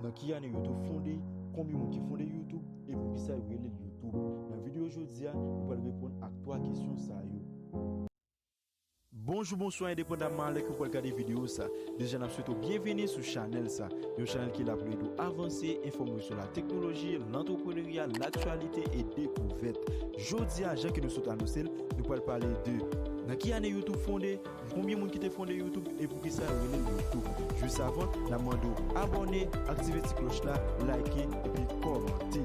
Nan ki ane YouTube fonde, konbyen moun ki fonde YouTube e poukisa yo rele l YouTube? Nan videyo jodi a, nou pral reponn ak 3 kesyon sa yo. Bonjou, bonswa endepandamman alè ke w pral gade videyo sa, deja nap swete w byenveni sou chanèl sa. Yon chanèl ki la pou l ede w avanse, enfòme w sou la teknoloji, lantreprenerya, laktyalite e dekouvèt. Jodi a, jan ke nou sot anonse l, nou pral pale de Nan ki ane YouTube fonde? Konbyen moun ki te fonde youtube e poukisa yo relel youtube? Jus avan na mande w abòne, aktive ti klòch la, like epi kòmante.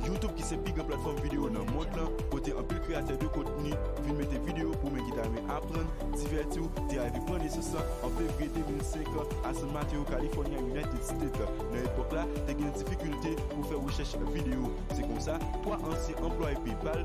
Youtube ki se pi gran platfòm videyo nan mond lan kote anpil kreyatè de kontni vin mete videyo pou men ki ta renmen aprann, divèti w, te arive pran nesans lan an fevriye 2005 a San Mateo California United State. Nan epòk la te gen difikilte pou fè rechèch videyo se konsa 3 ansyen anplwaye PayPal,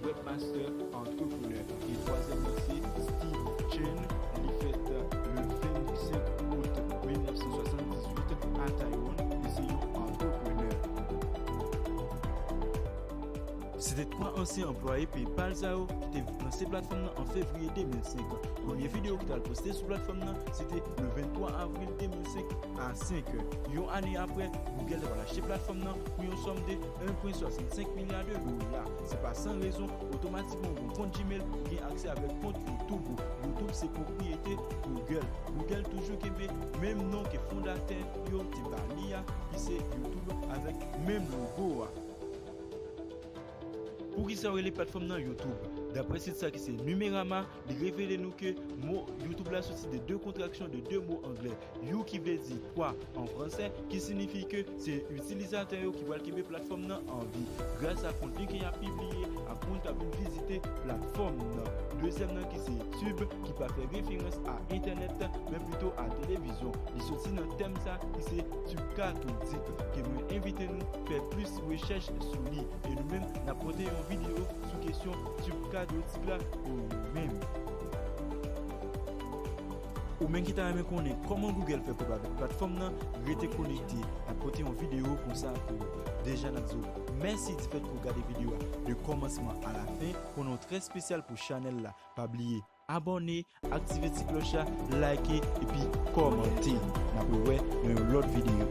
Webmaster Entrepreneur e twazyèm nan se Steve Chen, li fèt le 25 Out 1978 a Taiwan, li se yon entrepreneur. Se te 3 ansyen anplwaye PayPal sa yo ki te lanse platfòm nan an fevriye 2005. Premye videyo ki t al poste sou platfòm nan se te le 23 avril 2005 a 5 è. Yon ane aprè, Google t apral achte platfòm nan pou yon sòm de 1.65 milya de dola. Se pa san rezon, otomatikman ou gen yon kont Gmail, ou gen aksè avèk kont YouTube ou. YouTube se pwopriyete Google. Google toujou kenbe menm non ke fondatè yo te ba li a, ki se YouTube avèk menm logo a. Poukisa yo rele platfòm nan YouTube? Daprè sit sa ki se Numerama, li revele nou ke mo YouTube la soti de 2 kontraksyon de 2 mo anglè. You ki vle di kwa an fransè, ki sinifi ke se itilizatè yo ki pral kenbe platfòm nan an vi grasa kontni ke y ap pibliye ak moun k ap vin vizite platfòm nan. Dezyèm nan ki se tube ki pa fè referans a entènèt men pito a televizyon, li soti nan tèm sa ki se tube kathodik ke mwen envite nou fè plis rechèch sou li e nou menm n ap pote yon videyo sou kesyon tube kathodik la pou nou menm. Ou menm ki ta renmen konnen kòman Google fè kob avèk platfòm nan, rete konekte, nap pote yon video konsa pou ou. Deja nap di w mèsi di fèt ke w gade video a de kòmansman a la fen, konnen w trè spesyal pou chanèl la, pa bliye abòne, aktive ti klòch la, like epi kòmante. Nap wè nan yon lòt video.